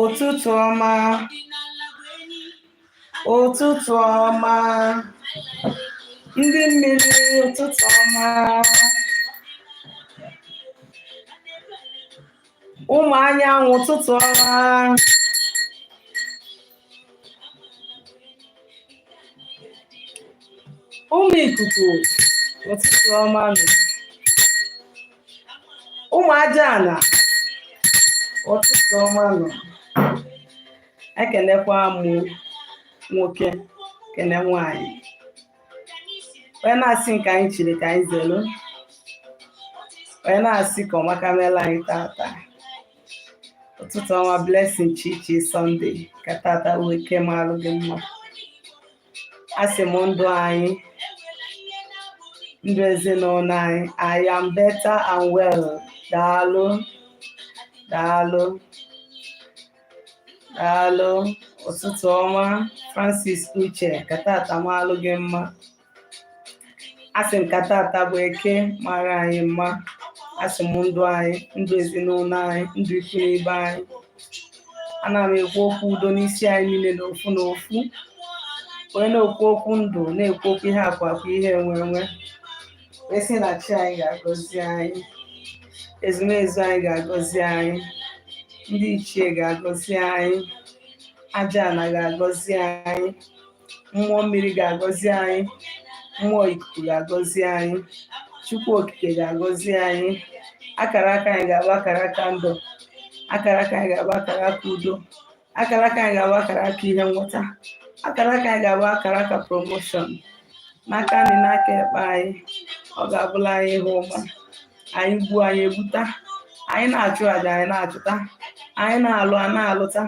ụtụtụ ọma ụtụtụ ọma ndị mmiri ụtụtụ ọma ụmụ anyanwụ ụtụtụ ọma ụmụ ikuku ụtụtụ ọma nụ ụmụ aja ana ụtụtụ ọma nụ ekenekwa m nwoke kene nwanyị onye na-asị nke anyị chiri ka anyị zelu onye na-asị ka ọmaka meela anyị tata ụtụtụ ọma blessing chichi Sunday ka tata bụ eke malụ gị mma asị m ndụ anyị ndụ ezinụlọ anyị I am better and well daalụ daalụ daalụ ụtụtụ ọma Francis Uche ka tata malụ gị mma asị m ka tata bụ eke mara anyị mma asị m ndụ anyị ndụ ezinụlọ anyị ndụ ikwu na ibe anyị ana m ekwu okwu udo n'isi anyị niile n'ofu n'ofu onye na-ekwu okwu ndụ na-ekwu okwu ihe akụ akụ ihe enwe enwe asị na chi anyị ga-agọzi anyị ezumezu anyị ga-agọzi anyị ndị ichie ga-agọzi anyị aja ana ga-agọzi anyị mmụọ mmiri ga-agọzi anyị mmụọ ikuku ga-agọzi anyị chukwu okike ga-agọzi anyị akara aka anyị ga-abụ akara aka ndụ akara aka anyị ga-abụ akara aka udo akara aka anyị ga-abụ akara aka ihe nweta akara aka anyị ga-abụ akara aka promotion n'aka nri n'aka ekpe anyị ọ ga-abụlụ anyị ihe ọma anyị gbuo anyị egbuta anyị na-achụ aja anyị na-achụta anyị na-alụ a na-alụta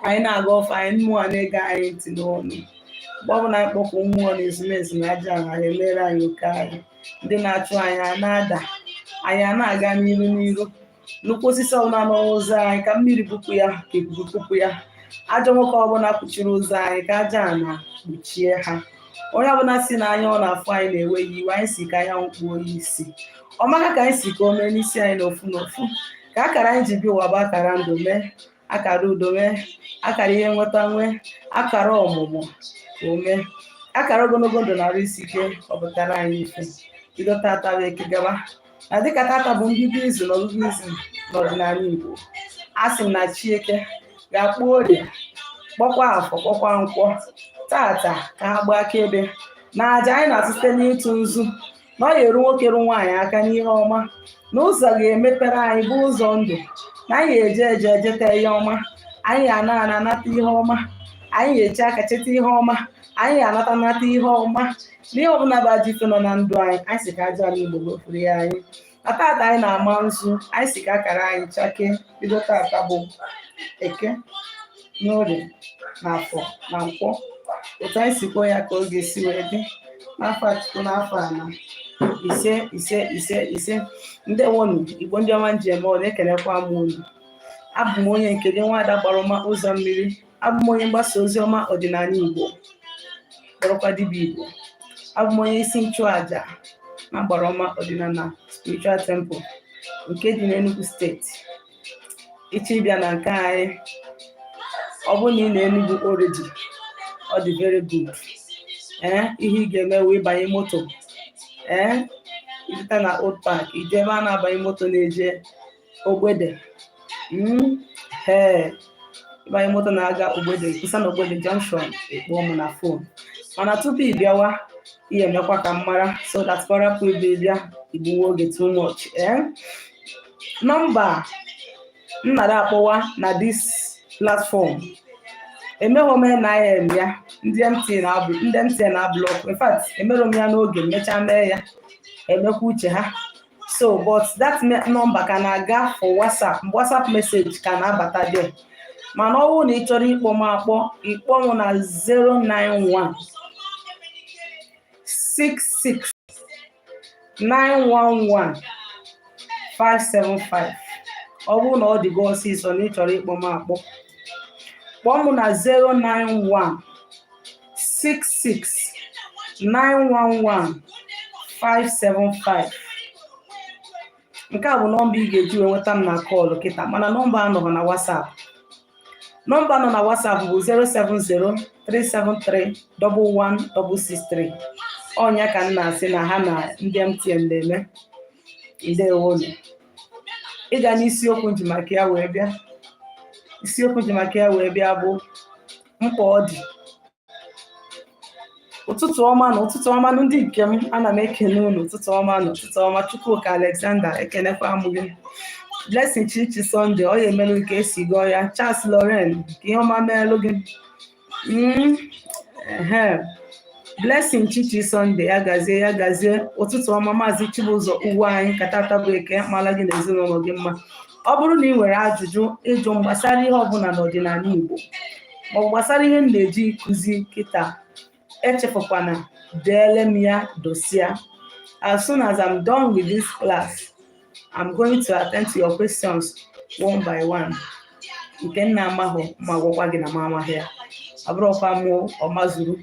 anyị na-agọ ọfọ anyị mmụọ na-ege anyị ntị n'ọnụ mgbe ọbụla anyị kpọku mmụọ na ezumezu na aja ana emere anyị oke anyị ndị na-achụ anyị a na-ada anyị a na-aga n'iru n'iru nnukwu osisi ọbụla nọ n'ụzọ anyị ka mmiri bupụ ya ka ikuku bupụ ya ajọ nwoke ọbụla kpuchiri ụzọ anyị ka aja ana kpuchie ha onye ọbụla si na anya ọ na-afụ anyị na-ewe ya iwe anyị si ka anya kpuo ya isi ọ maka ka anyị si ka o mee n'isi anyị n'ofu n'ofu ka akara anyị ji bịa ụwa bụ akara ndụ mee akara udo mee akara ihe nweta nwee akara ọmụmụ mee akara ogologo ndụ na arụ isi ike ọ pụtara anyị ife bido tata bụ eke gaba na dịka tata bụ mbido izu na ọgụgụ izu n'ọdịnala Igbo a sị m na Chieke ga-akpọ orie kpọkwa afọ kpọkwa nkwọ tata ka ha gbaa akaebe na aja anyị na-atụ site n'ịtụ nzu na ọ ga-eru nwoke ru nwaanyị aka n'ihe ọma na ụzọ ga-emepere anyị bụ ụzọ ndụ na anyị ga-eje eje ejeta ihe ọma anyị ana ana anata ihe ọma anyị ga-eche aka cheta ihe ọma anyị ga-anata nata ihe ọma n'ihe ọbụla bụ ajọ ife nọ na ndụ anyị anyị sị ka aja ala Igbo gọfuru ya anyị na tata anyị na-ama nzu anyị sị ka akara anyị chakee bido tata bụ eke n'orie na afọ na nkwọ otu anyị si kwuo ya ka ọ ga-esi wee dị n'ọfọ Chukwu n'ọfọ ana ise ise ise ise ndewonu Igbo ndị ọma m ji eme ọnụ ekelekwa m unu abụ m onye nke gị nwaada Agbara Ọma ụzọ mmiri abụ m onye mgbasa ozi ọma ọdịnala Igbo kpọrọkwa dibịa Igbo abụ m onye isi nchụaja na agbara ọma ọdịnala spiritual temple nke dị n'Enugu steeti ị chọọ ịbịa na nke anyị ọ bụrụ na ị nọ Enugwu already ọ dị very good ee eh, ihe ị ga-eme bụ ịbanye moto ee eh, ị pụta na old park i jee ebe a na-abanye moto na-eje ogbede hmm, ee ịbanye moto na-aga ogbede kwụsa na ogbede junction ị kpọọ m na fon mana tupu ị bịawa i mekwa ka m mara so that ka ọ rapụ ịbụ ị bịa i gbuwe oge too much ee nọmba m nara akpọwa na this platform emeghị m NIN ya ndị MTN ablọkụ in fact emerụ m ya n'oge mechaa mee ya emekwa uche ha so but that number ka na-aga for whatsapp whatsapp message ka na-abata there mana ọ bụrụ na ị chọrọ ịkpọ m akpọ ị kpọọ m na 091 66 911 575 ọ bụrụ na ọ dịgo ọsịsọ na ị chọrọ ịkpọ m akpọ kpọọ m na 091 66 911 575 nke a bụ nọmba ị ga-eji wee nweta m na kọlụ kịta mana nọmba a anọrọ na WhatsApp nọmba nọ na WhatsApp bụ 070-373-11663 ọ nya ka m na-asị na ha na ndị MTN na-eme ndewonu ịga n'isiokwu m ji maka ya wee bịa isiokwu m ji maka ya wee bịa bụ mkpa ọ dị ụtụtụ ọma nụ ụtụtụ ọma nụ ndị nke m ana m ekene unu ụtụtụ ọma nụ ụtụtụ ọma Chukwuka Alexander ekenekwa m gị Blessing Chichi Sunday ọ ya emelụ ka e si gọọ ya Charles Loren ka ihe ọma meelụ gị mm, Blessing Chichi Sunday ya gazie ya gazie ụtụtụ ọma maazị Chibụzọ Ugwuanyị ka tata bụ Eke mala gị na ezinụlọ gị mma ọ bụrụ na ị nwere ajụjụ ịjụ m gbasara ihe ọbụla n'ọdịnala Igbo ma ọ gbasara ihe m na-eji kụzi kịta echefukwana deele m ya dosia as soon as I'm done with this class I'm going to attend to your questions one by one nke m na-amahụ m agwakwa gị na m amaghị ya abụrọkwa m ọmazuru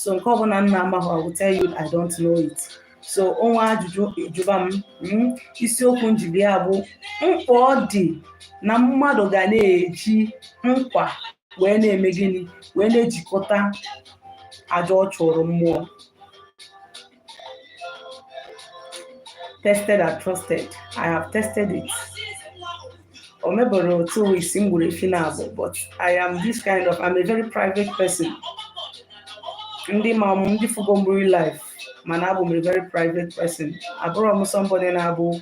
so nke ọbụla m na-amahụ I will tell you I don't know it so o nwee ajụjụ ajụba m hmm, isiokwu m ji bịa bụ mkpa ọ dị na mmadụ ga na-eji nkwa wee na-eme gịnị wee na-ejikọta aja ọ chụrụ mmụọ tested and trusted i have tested it o meberọ two weeks m gburu efi naabọ but i am this kind of i'm a very private person ndị ma m ndị fụgo m real life ma na abụ m a very private person abụrọ m somebody na-abụ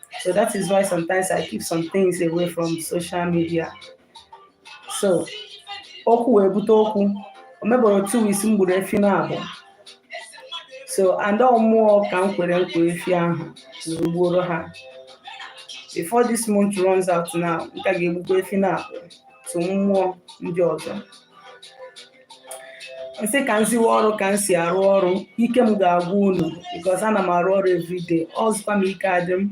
So that is why sometimes I keep some things away from social media. So okwu wee bute okwu o meberọ two weeks m gburu efi naabọ so and ọ mmụọ ka m kwere nkwa efi ahụ wee gbuoro ha before this month runs out now m ka ga-egbukwa efi naabọ to mmụọ ndị ọzọ m sị ka m ziwe ọrụ ka m si arụ ọrụ ike m ga-agwụ unu because ana m arụ ọrụ everyday ọzụkwa m ike adị m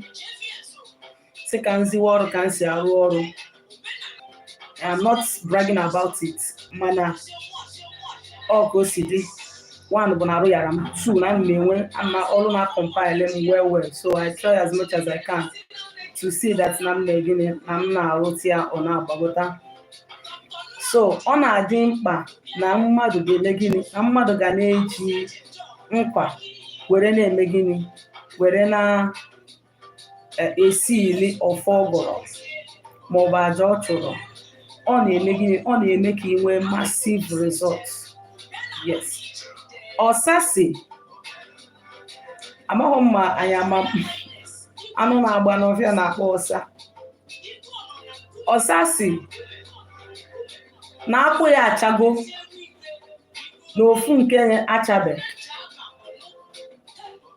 sị ka m ziwe ọrụ ka m si arụ ọrụ I'm not bragging about it mana ọ ka o si dị one bụ na arụ yara m two na m na-enwe ama ọrụ na-acompile m well well so I try as much as I can to see that na m na-eme gịnị na m na-arụta ya ọ na-agbagota so ọ na-adị mkpa na mmadụ ga-eme gịnị na mmadụ ga na-eji nkwa were na-eme gịnị were na-esi e, ili ọfọ ọ gọrọ maọbụ aja ọ chụrụ ọ na-eme gịnị ọ na-eme ka ị nwee massive results yes ọsa sị amaghị m ma anyị ama anụ na-agba n'ọfịa na-akpọ ọsa ọsa sị na akwụ ya achago na ofu nke achabe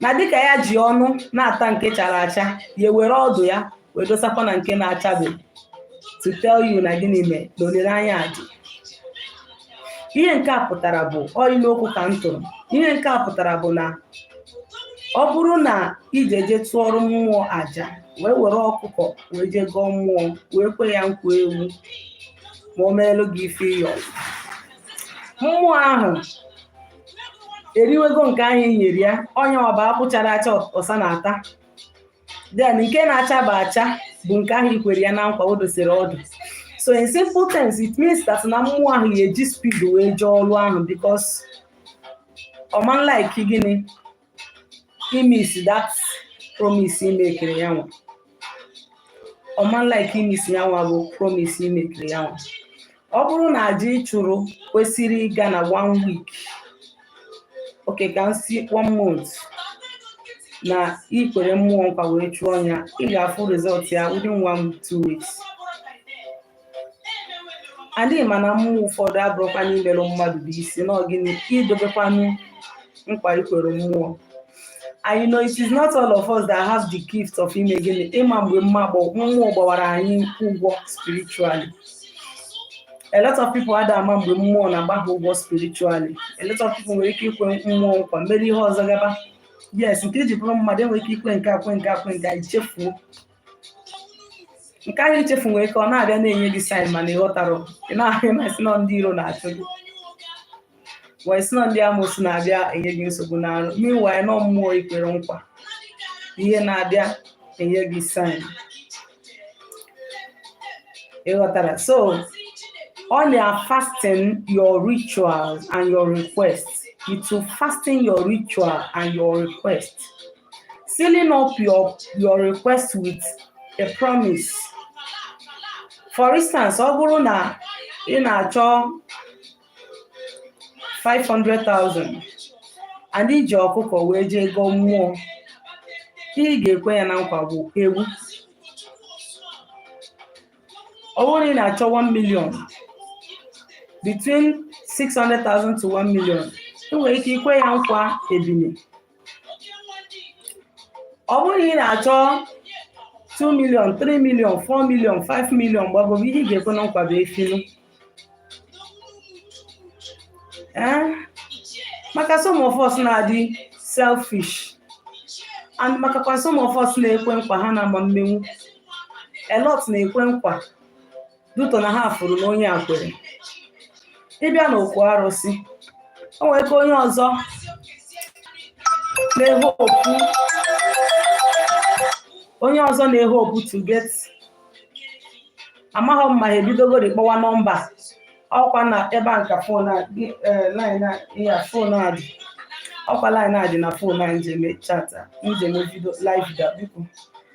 na dịka ya ji ọnụ na-ata nke chara acha ya ewere ọdụ ya wee dosakwa na nke na-achabe to tell you na gịnị mee na olileanya a dị ihe nke a pụtara bụ ọ inu okwu ka m tụrụ ihe nke a pụtara bụ na ọ bụrụ na i je je tụọrọ mmụọ aja wee were ọkụkọ wee je gọọ mmụọ wee kwe ya nkwa ewu ma o meelụ gị ife ị yọ mmụọ ahụ eriwego nke ahụ i nyere ya ọ ya bụ akwụ chara acha ọsa na-ata then nke na-achaba acha bụ nke ahụ i kwere ya na nkwa o dosiri ọdụ so in simple terms it means that na mmụọ ahụ ya-eji speed wee jee ọrụ ahụ because ọ ma like gịnị ịmiss that promise i makere ya nwa ọ ma like ịmiss ya nwa bụ promise i makere ya nwa ọ bụrụ na aja ị chụrụ kwesịrị ịga na one week okay ka m si one month na i kwere mmụọ nkwa wee chụọ ya ị ga-afụ result ya within one two weeks and ị ma na mmụọ ụfọdụ abụrụkwa n'imerụ mmadụ bụ isi na ọ gịnị idobekwanụ nkwa i kwere mmụọ and you know it is not all of us that have the gift of ime gịnị ịma mgbe mmụọ gbawara anyị ụgwọ spiritually a lot of people ada ama mgbe mmụọ na-agba ha ụgwọ spiritually a lot of people nwere ike ikwe mmụọ nkwa mere ihe ọzọ gaba yes nke i ji bụrụ mmadụ i nwere ike ikwe nke a kwe nke a kwe nke a i chefuo nke ahụ i chefu nwere ike ọ na-abịa na-enye gị sign mana ị ghọtarọ ị na-ahụ na e si na ọ ndị iro na-achụ gị wee si na ọ ndị amoosu na-abịa enye gị nsogbu n'arụ meanwhile na ọ mmụọ i kwere nkwa ihe na-abịa enye gị sign ị ghọtarọ so ọ na-fasten your rituals and your requests it will fasten your ritual and your request sealing up your request with a promise. For instance, ọ bụrụ na ị na-achọ 500,000 and i ji ọkụkọ wee jee gọọ mmụọ ihe ị ga-ekwe ya na nkwa bụ ewu ọ bụrụ na ị na-achọ 1 million between 600,000 to 1 million i nwere ike ikwe ya nkwa ebine ọ bụrụ na ị na-achọ 2 million 3 million 4 million 5 million gbagobe ihe ị ga-ekwe na nkwa bụ efi nụ ee maka some of us na-adị selfish and makakwa some of us na-ekwe nkwa ha na-ama mmenwu a lot na-ekwe nkwa due to na ha fụrụ na onye a kwere ị bịa n'okwu arụsị o nwere ike onye ọzọ na-e- onye ọzọ na-ehope to get amaghị m ma ha ebidogori kpọwa nọmba ọkwa na ebe a nke fon a dị, eh, line a- ya fon a dị ọkwa line a dị na fon a m ji eme chat a m ji eme vidio live dị off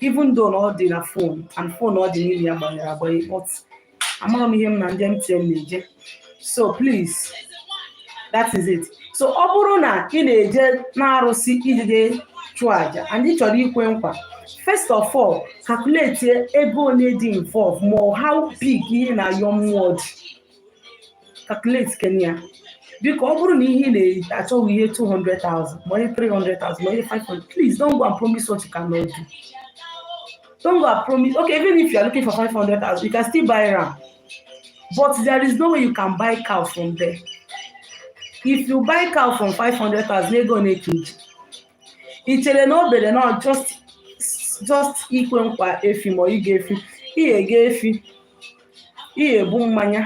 even though na ọ dị na fon and fon ọ dị n'ime ya gbanyere agbanye but amarọ m ihe m na ndị MTN na-eje so please that is it so ọ bụrụ na ị na-eje n'arụsị ijide chụọ aja and ị chọrọ ikwe nkwa first of all calculate ego ole dị involve ma how big ihe ị na-ayọ mmụọ dị calculate kene ya biko ọ bụrụ na ihe ị na-eyi achọghị ihe 200,000 ma onye 300,000 ma onye 500 please don't go and promise what you cannot do don't go and promise okay even if you are looking for 500,000 you can still buy ram but there is no way you can buy cow from there if you buy cow from 500,000 ego na-eke iji i chere na o bere na ọ just just ikwe nkwa efi ma ị goo efi ị ga-ego efi ị ga-ebu mmanya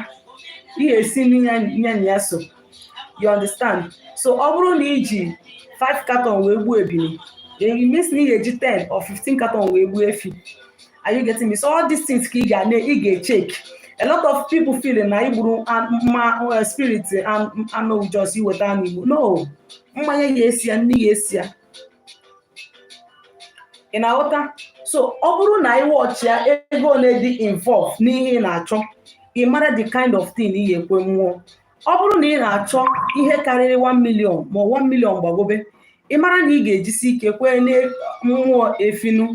ị ga-esi nni nya na ya so you understand so ọ bụrụ na i ji 5 carton wee gbuo ebini then it means na ị ga-eji 10 or 15 carton wee gbuo efi are you getting me so all these things ka ị ga na ị ga-echek a lot of people feeling na igburu mma spirit anụ just iweta anụ i gbuo no mmanya ga-eso ya nni ga-eso ya ị na-aghọta so ọ bụrụ na ị watchịa ego ole dị involve n'ihe ị na-achọ ị mara the kind of thing ị ga-ekwe mmụọ ọ bụrụ na ị na-achọ ihe karịrị 1 million ma 1 million gbagobe ị mara na ị ga-ejisi ike kwee na mmụọ efi nụ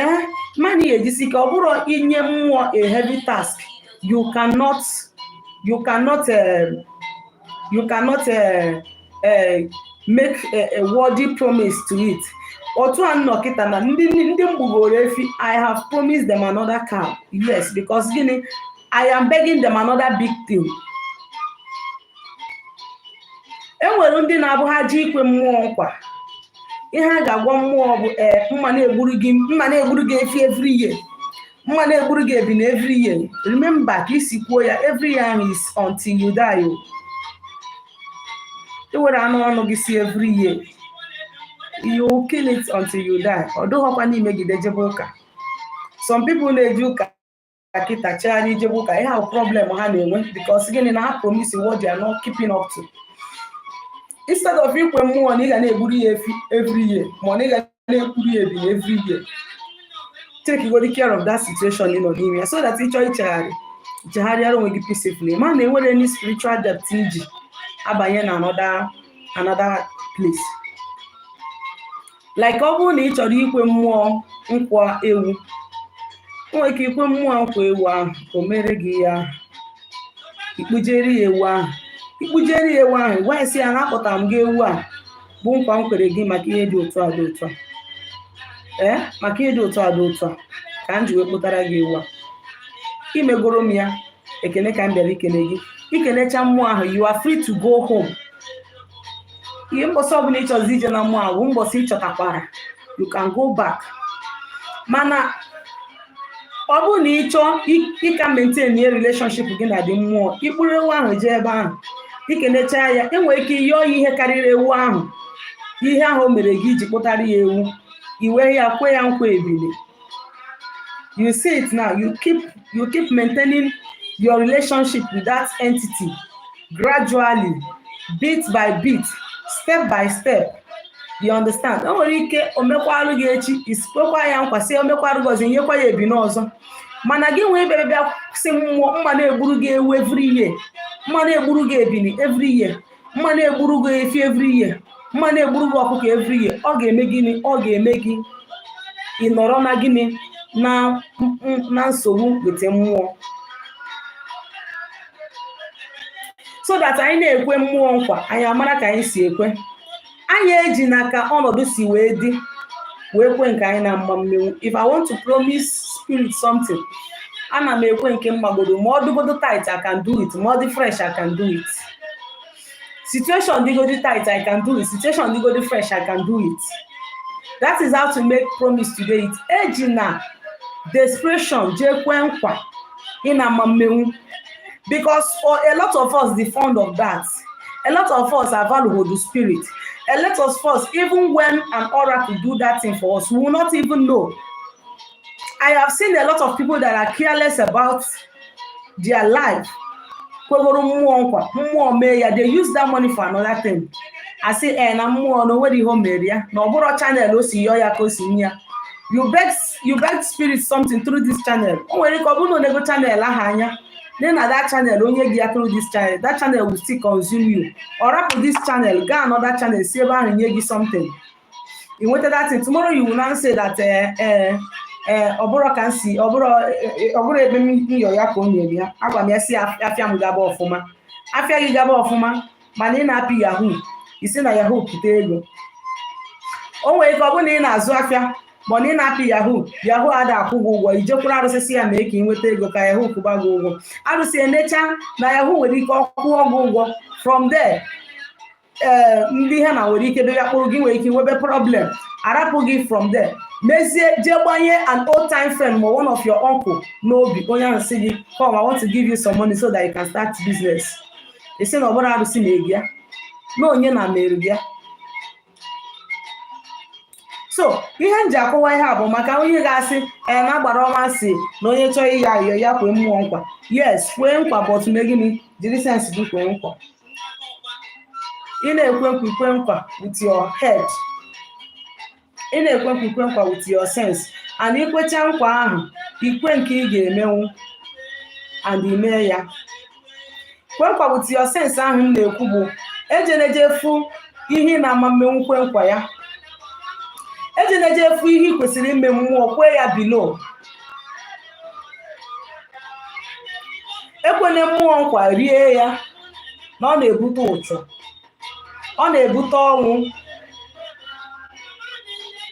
ee mara na ị ga-ejisi ike ọ bụrọ i nye mmụọ a heavy task you cannot you cannot uh, you cannot uh, eh, make a worthy promise to it otu a m nọ kịta na ndị ndị m gbugoro efi i have promised them another cow yes because gịnị i am begging them another big thing e nwere ndị na-abụ ha jee ikwe mmụọ nkwa ihe ha ga-agwa mmụọ bụ ee eh, m ga na-egburu gị m ga na-egburu gị efi every year m ga na-egburu gị ebini every year remember ka i si kwuo ya every year is until you die oh. i were nnọọ ọnụ gị sị every year you kill it until you die ọ dụghọkwa na i megide jebe ụka some people na-eje ụka kịta chegharịa jebe ụka ị ga-ahụ problem ha na-enwe because gịnị na ha promise what they are not keeping up to instead of ikwe mmụọ na ị ga na-egburu ya efi every year ma na ị ga na-egburu ya ebini every year take good care of that situation ị nọ n'ime ya so that ị chọọ ichegharị chegharịara onwe gị peacefully ma na enwere any spiritual debt i ji abanye na another another place like ọ bụrụ na ị chọrọ ikwe mmụọ nkwa ewu nwere ike ikwe mmụọ nkwa ewu ahụ o mere gị ya ị kpụjere ya ewu ahụ ị kpụjere ya ewu ahụ gwa ya sị ya na akpụtara m gị ewu a bụ nkwa m kwere gị maka ihe dị otu a dị otu a ee maka ihe dị otu a dị otu a ka m ji wee kpụtara gị ewu a i megoro m ya ekene ka m bịara ikene gị i kenecha mmụọ ahụ you are free to go home ihe mbọsị ọbụla ị chọzi ije na mmụọ ahụ mbọsị ị chọtakwara you can go back mana ọ bụrụ na ị chọọ ịka maintainie relationship gị na the mmụọ ị kpụrụ ewu ahụ jee ebe ahụ i kenecha ya i nwere ike yọọ ya ihe karịrị ewu ahụ ihe ahụ o mere gị i ji kpụtara ya ewu i wee ya kwe ya nkwa ebili you see it now you keep you keep maintaining your relationship with that entity gradually bit by bit step by step you understand o nwere ike o mekwarụ gị echi i si kwekwa ya nkwa sị o mekwarụ gị ọzọ nyekwa ya ebini ọzọ mana gị nwa bịara bịa sị mmụọ m ma na-egburu gị ewu every year m ma na-egburu gị ebini every year m ma na-egburu gị efi every year m ma na-egburu gị ọkụkọ every year ọ ga-eme gịnị ọ ga-eme gị ị nọrọ na gịnị na na nsogbu with the mmụọ so that anyị na-ekwe mmụọ nkwa anyị amara ka anyị si ekwe anyị ejina ka ọnọdụ si wee dị wee kwe nke anyị na-ama mmenwu if i want to promise spirit something ana m ekwe nke m magodo ma ọ dịgodo tight i can do it ma ọ dị fresh i can do it situation digodi tight i can do it situation digodi fresh i can do it that is how to make promise today it eji na desperation jee kwe nkwa ị na ama mmenwu because for a lot of us dey fond of that a lot of us are valuable to spirit a lot of us even when an oracle do that thing for us we will not even know I have seen a lot of people that are careless about their life. Kwegoro mmụọ nkwa, mmụọ mee ya, they use that money for another thing. A sị e eh, na mmụọ na o nwerọ ihe o mere ya na ọ bụrọ channel o si yọọ ya ka o si nye ya. You beg, you beg spirit something through this channel. O nwere ike ọ bụrụ na o nego channel ahụ anya nee na that channel o nye gị ya through this channel that channel will still consume you. Ọ rapụ this channel gaa another channel si ebe ahụ nye gị something. ị nweta that thing tomorrow you will now say that eh, eh, eh, ọ bụrọ ka m si ọ bụrọ eh, ọ bụrọ ebe m yọ ya ka o nyere ya agwa m ya sị af- afịa m gaba ọfụma afịa gị gaba ọfụma mana ị na-apị yahoo i si na yahoo pụta ego o nwere ike ọ bụrụ na ị na-azụ afịa ma na ị na-apị yahoo yahoo ada akwụ gị ụgwọ i jekwuru arụsị sị ya mee ka ị nweta ego ka yahoo kwụba gị ụgwọ arụsị enecha na yahoo nwere ike ọ kwụọ gị ụgwọ from there ee eh, ndị ha na nwere ike bịa kpụrụ gị nwere ike nwebe problem arapụ gị from there mezie jee gbanye an old time friend ma one of your uncle n'obi onye ahụ sị gị come i want to give you some money so that you can start business ị sị na ọ bụrọ arụsị mere gị ya na onye na mere gị ya so ihe m ji akọwa ihe a bụ maka onye ga-asị ee eh, na agbara ọnwa sị na onye chọọ ihe ya kwee mmụọ nkwa yes kwee nkwa but mee gịnị jiri sense gị kwee nkwa ị na-ekwe nkwa i kwe nkwa with your head ị na-ekwe nkwa i kwe nkwa with your sense and i kwecha nkwa ahụ i kwe nke ị ga-emenwu and i mee ya kwe nkwa with your sense ahụ m na-ekwu bụ ejene jee fụ ihe ị na-ama emenwu kwe nkwa ya ejene jee fụ ihe i kwesịrị ime mmụọ kwe ya below ekwene mmụọ nkwa rie ya na ọ na-ebute ụchụ ọ na-ebute ọnwụ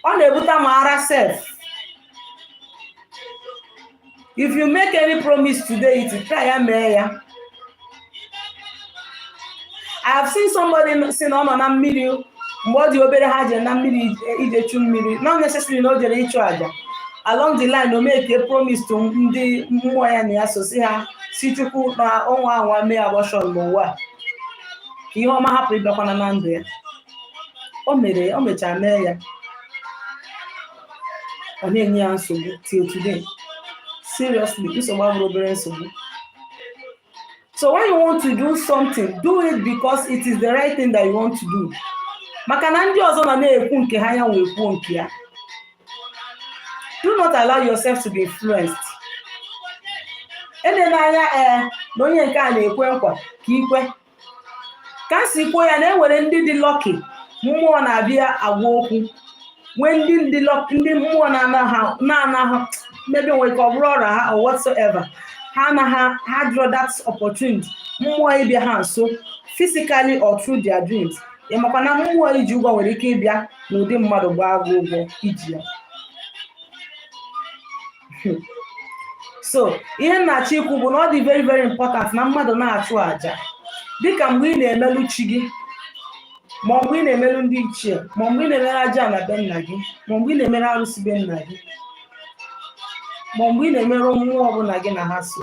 ọ na-ebute ma ara sef if you make any promise today ị try ya mee ya i have seen somebody sị na ọ nọ na mmiri mgbe ọ dị obere ha jere na mmiri ije- ije chu mmiri not necessarily na o jere ịchụ aja along the line o make a promise to ndị mmụọ ya na ya so sị ha sị chukwu na ọ nwaa anwa mee abortion n'ụwa a. ka ihe ọma hapụ ịbịakwana na ndụ ya o mere o mechara mee ya ọ na-enye ya nsogbu till today seriously nsogbu abụrọ obere nsogbu so when you want to do something do it because it is the right thing that you want to do maka na ndị ọzọ na na-ekwu nke ha ya wee kwuo nke ya do not allow yourself to be influenced elene anya ee na onye nke a na-ekwe nkwa ka i kwe ka m si kwuo ya na e nwere ndị dị lucky mmụọ na-abịa agwa okwu nwee ndị mmụọ na-anaghị maybe nwere ike ọ bụrụ aura ha or whatsoever ha anaghị ha draw that opportunity mmụọ ịbịa ha nso physically or through their dreams ị makwa na mmụọ i ji ụgwọ nwere ike ịbịa n'ụdị mmadụ gbaa gị ụgwọ i ji ya so ihe m na-achọ ikwu bụ na ọ dị very very important na mmadụ na-achụ àjà dịka mgbe ị na-emelu chi gị ma mgbe ị na-emelu ndị ichie ma mgbe ị na-emere ajana be nna gị ma mgbe ị na-emere arụsị be nna gị ma mgbe ị na-emere mmụọ ọbụla gị na ha so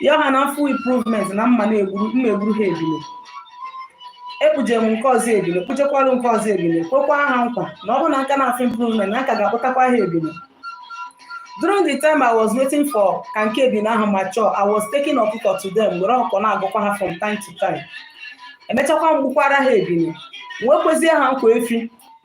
ya ha na m fụ improvement na m ma na m ma egburu ha ebile ekpuje m nke ọzọ ebile kpujekwara nke ọzọ ebile kwekwa ha nkwa na ọ bụrụ na m ka na-afụ improvement na m ka ga-akpụtakwa ha ebile during the time i was waiting for ka nke ebile ahụ mature i was taking ọkụkọ to them were ọkụkọ na-agụkwa ha from time to time e mechakwa m gbukwara ha ebile wee kwezie ha nkwa efi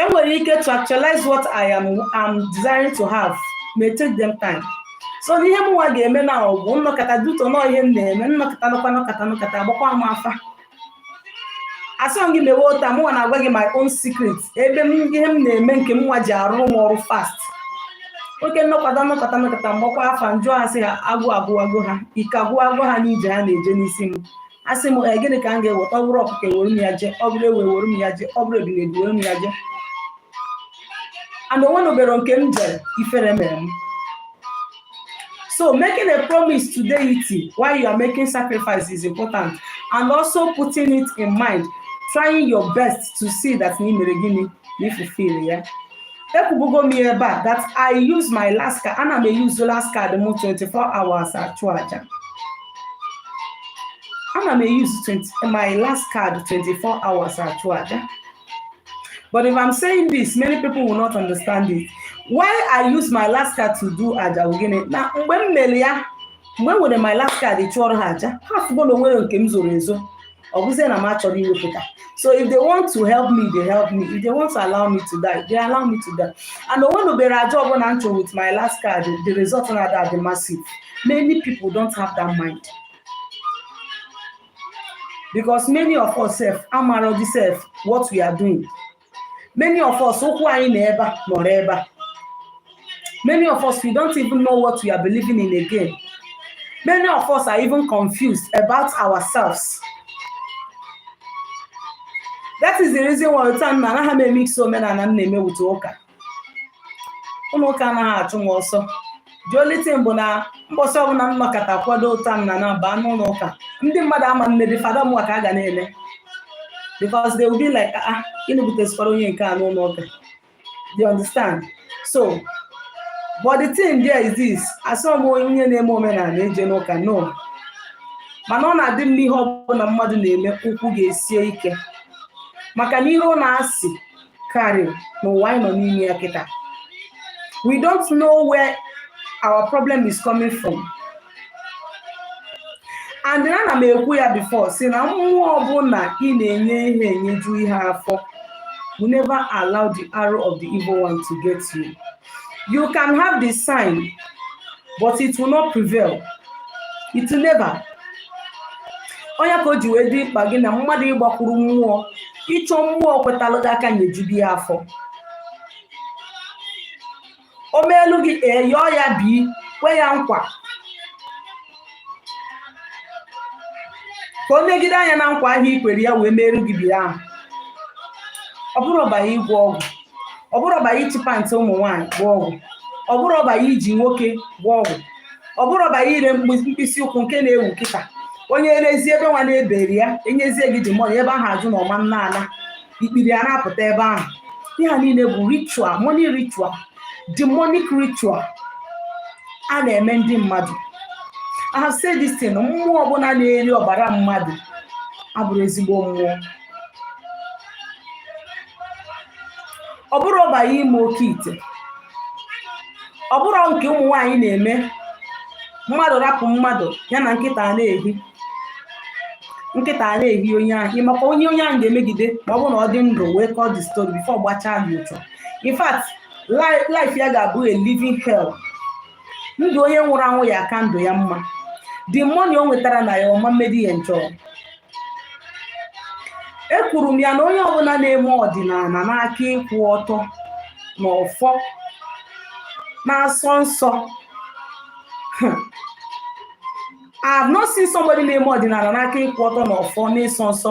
enwere ike to actualize what I am desiring to have may take them time so n'ihe m nwa ga-eme na ọ bụ m nọkata due to na ọ ihe m na-eme m nọkata nọkata nọkata nọkata agbakwa m afa asịrọ gị mewe otu a mụnwa na-agwa gị my own secret ebe ihe m na-eme nke m nwa ji arụ m ọrụ fast okay m nọkata nọkata nọkata m gbakwa afa m jụọ ha sị ha agụụ agụwago ha ike agwụwago ha n'ije ha na-eje n'isi m asị m ee gịnị ka m ga-eweta ọ bụrụ ọkụkọ ewere m ya jee ọ bụrụ ewu ewere m ya jee ọ bụrụ ebile ewere m ya jee and o nwenubere nke m jere ifere mere m so making a promise to deity while you are making sacrifice is important and also putting it in mind trying your best to see that na i mere gịnị na i fulfil ya ekwubugo m ebe a that i use my last card ana m use last card m 24 hours achụ aja ana m use my last card 24 hours achụ aja but if i'm saying this many people will not understand it why i use my last card to do aja gịnị na mgbe m mere ya mgbe m were my last card chụọrọ ha aja ha fụgo na o nwerọ nke m zoro ezo ọ bụzie na m achọrọ iwepụta so if they want to help me they help me if they want to allow me to die they allow me to die and o nwenubere aja ọbụla m chụrụ with my last card the result na ada adị massive many people don't have that mind because many of us sef amarọdị sef what we are doing many of us ụkwụ anyị nọ ebe a nọrọ ebe a many of us we don't even know what we are believing in again many of us are even confused about ourselves that is the reason why otu a na anaghị m emix omenala m na-eme with ụka ụlọ ụka anaghị achụ m ọsọ the only thing bụ na mbọsị ọbụla m nọkata kwado otu a m na na baa n'ụlọ ụka ndị mmadụ ama nedị fada mụwa ka a ga na-ele because they will be like ah, ah gịnị butesịkwara onye nke a n'ụlọ ụka you understand so but the thing there is this asịrọ m onye na-eme omenala ejena ụka no mana ọ na-adị mma ihe ọbụla mmadụ na-eme ụkwụ gị esie ike maka na iro na asị karịrị n'ụwa anyị nọ n'ime ya kịta we don't know where our problem is coming from and ana m ekwu ya before sị na mmụọ ọbụla ị na-enye ihe enyeju ihe afọ will never allow the arrow of the evil one to get you You can have the sign, but it will not prevail. It will never. Ọ nya ka o ji wee dị mkpa gị na mmadụ ịgbakwuru mmụọ ịchọ mmụọ kwetalụ gị aka nyejubi ya afọ o meelu gị ee yọọ ya bi kwe ya nkwa ka o negide anya na nkwa ahụ i kwere ya wee meru gị ife ahụ ọ bụrọ by ịgwọ ọgwụ ọ bụrọ by ịchị pant ụmụ nwaanyị gwọ ọgwụ ọ bụrọ by iji nwoke gwọ ọgwụ ọ bụrọ by ire mkpịsị ụkwụ nke na-ewu kịta onye rezie ebe nwa na-eberi ya enyezie gị the money ebe ahụ ajụ na ọma nna ala ikpiri a na-apụta ebe ahụ ihe a niile bụ ritual money ritual demonic ritual a na-eme ndị mmadụ I have said this thing mmụọ ọbụla na-eri ọbara mmadụ abụrọ ezigbo mmụọ ọ bụrọ by ime oke ite ọ bụrọ nke ụmụ nwaanyị na-eme mmadụ rapụ mmadụ ya na nkịta na-ehi onye ahụ ị makwa onye onye ahụ ga-emegide ma ọ bụrụ na ọ dị ndụ wee kọọ the story before gbachaa gị ụchọ in fact life ya ga-abụ a living hell ndụ onye nwụrụ anwụ ya-aka ndụ ya mma the money o nwetara na ya ọ ma emedi ya enjoy ekwuru m ya na onye ọbụla na-eme ọdịnala n'aka ịkwụ ọtọ na ọfọ na-asọ nsọ I have not seen somebody na-eme ọdịnala n'aka ịkwụ ọtọ na ọfọ na ịsọ nsọ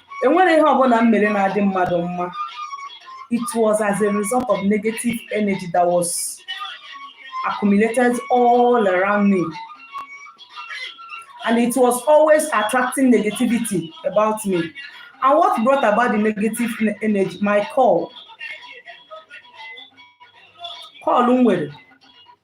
enwere ihe ọbụla m mere na-adị mmadụ mma it was as a result of negative energy that was accumulated all around me and it was always attracting negativity about me and what brought about the negative ne- energy my call call m nwere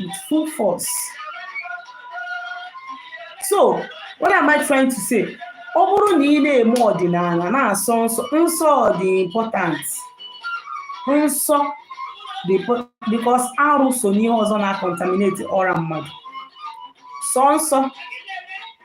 with full force. So, what am I trying to say? ọ bụrụ na ị na-eme ọdịnala na-asọ nsọ nsọ dị important nsọ dị impo- because arụ so n'ihe ọzọ na-acontaminate aura mmadụ sọ nsọ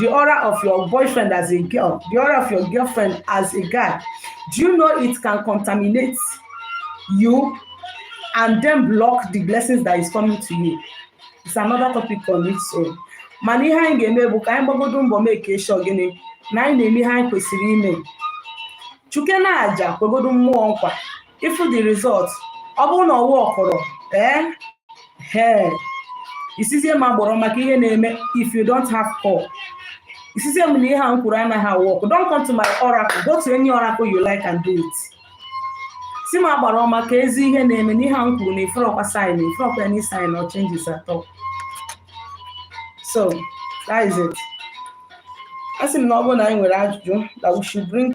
the aura of your boyfriend as a girl, the aura of your girlfriend as a guy, do you know it can contaminate you and then block the blessings that is coming to you? It's another topic on its own. mana ihe anyị ga-eme bụ ka anyị gbagodo mbọ make sure gịnị na anyị na-eme ihe anyị kwesịrị ime chụkene aja kwegodo mmụọ nkwa if the result ọ bụrụ na ọ workrọ ee eh, hee eh, i sizie m agbara ị makwa ihe na-eme if you don't have call i sizie m na ihe a m kwuru anaghị a-work don't come to my oracle go to any oracle you like and do it si m agbara ị makwazi ihe na-eme n'ihe a m kwuru na ị fụrọkwa sign ị fụrọkwa any sign or changes at all so that is it a sị m na ọ bụrụ na anyị nwere ajụjụ that we should bring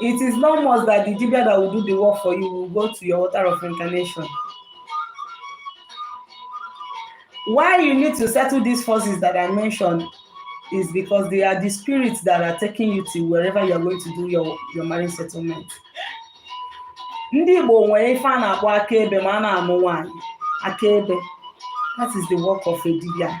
It is not must that the dibia that will do the work for you will go to your altar of incarnation. Why you need to settle these forces that I mentioned is because they are the spirits that are taking you to wherever you are going to do your, your marriage settlement. Ndị Igbo nwere ife a na-akpọ akaebe ma a na-amụ nwaanyị akaebe that is the work of a dibia.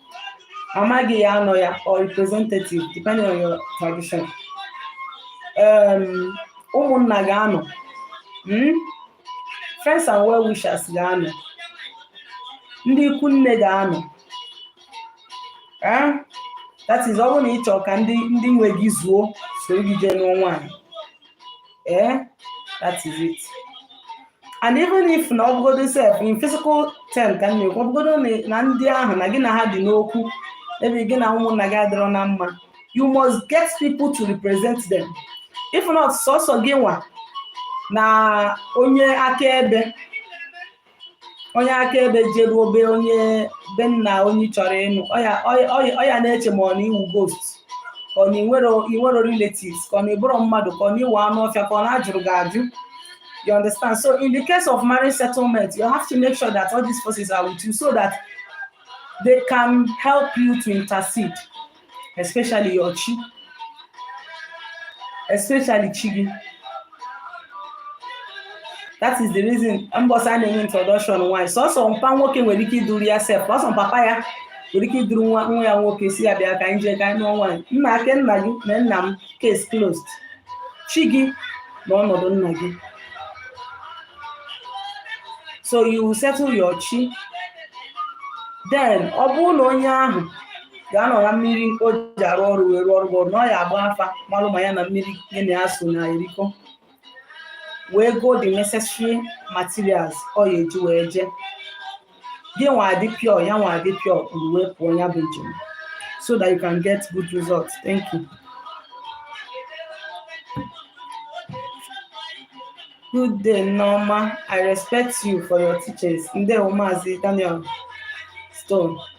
mama gị ya anọ ya or representative depending on your tradition um, ụmụnna ga-anọ hmm? friends and well wishers ga-anọ ndị ikwu nne ga-anọ eh? that is ọ bụrụ na ị chọọ ka ndị ndị nwe gị zuo soro gị jee nụọ nwaanyị ee eh? that is it and even if na ọbụgodo sef in physical term ka m na-ekwu ọbụgodo na- na ndị ahụ na gị na ha dị n'okwu ebe gị na ụmụnna gị adịrọ na mma you must get people to represent them if not sọsọ gị nwa na onye akaebe onye akaebe jeruo be onye be nna onye ị chọrọ ịnụ ọ ya- ọ ya- ọ ya- ọ ya na-eche ma ọ na ị wụ ghost ka ọ na i nwero relatives ka ọ na ị bụrọ mmadụ ka ọ na ị wụ anụ ọfịa ka ọ na a jụrụ gị ajụ you understand so in the case of marriage settlement you have to make sure that all these forces are with you so that they can help you to intercede especially your chi especially chi gị that is the reason mbọsị a na-eme introduction nwaanyị sọsọ mpa nwoke nwere ike iduru ya sef sọsọ papa ya nwere ike iduru nwa nwa ya nwoke sị ya bịa ka anyị jee ka anyị nụọ nwaanyị nna ake nna gị na nna m case closed chi gị nọ ọnọdụ nna gị so you settle your chi then ọ bụrụ na onye ahụ ga-anọ na mmiri o ji arụ ọrụ wee rụọrọ gị ọrụ na ọ ya agba afa malụ ma ya na mmiri gị na ya so na erikọ wee go the necessary materials ọ ya eji wee jee gị nwa adị pure ya nwa adị pure kpuru wee pụọ ya bụ njem so that you can get good results thank you good day Nneoma i respect you for your teachings ndewo maazị Daniel Stone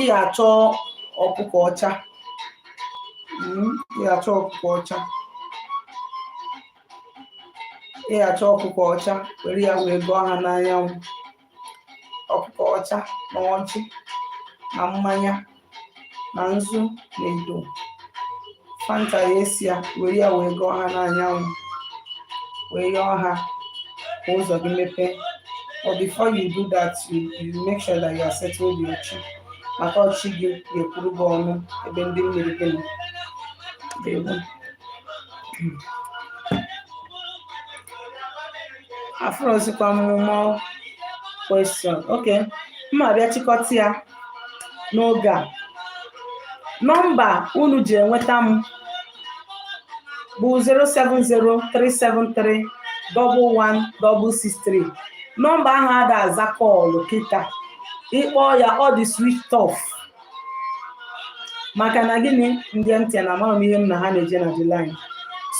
ị ga-achọ ọkụkọ ọcha mm, ị ga-achọ ọkụkọ ọcha ị ga-achọ ọkụkọ ọcha were ya wee gọọ ha n'anyanwụ ọkụkọ ọcha na ọjị na mmanya na nzu na edo fanta ya esi ya were ya wee gọọ ha n'anyanwụ wee yọọ ha ka ụzọ gị mepee but before you do that you, you make sure that you have settled your chi maka ọ chi gị ga-ekwuru gị ọnụ ebe ndị mmiri gị nọ Ndewo. afụrọzikwa m more question okay mma abịa chịkọta ya n'oge a nọmba unu ji enweta m bụ 07037311663 nọmba ahụ ada aza call kịta ị kpọọ ya ọ dị switch off maka na gịnị ndị MTN amarọ m ihe m na ha na-eje na the line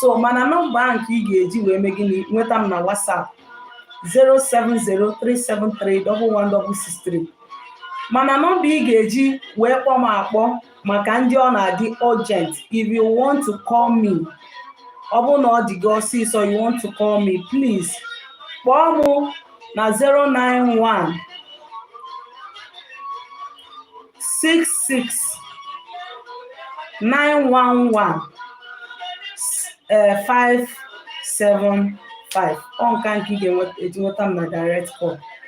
so mana nọmba ahụ nke ị ga-eji wee mee gịnị nweta m na WhatsApp 07037311663 mana nọmba ị ga-eji wee kpọọ m akpọ maka ndị ọ na-adị urgent if you want to call me ọ bụrụ na ọ dị gị ọsịsọ you want to call me please kpọọ m na 091 66 911 575 ọ nka nke ị ga-eji nweta m na direct call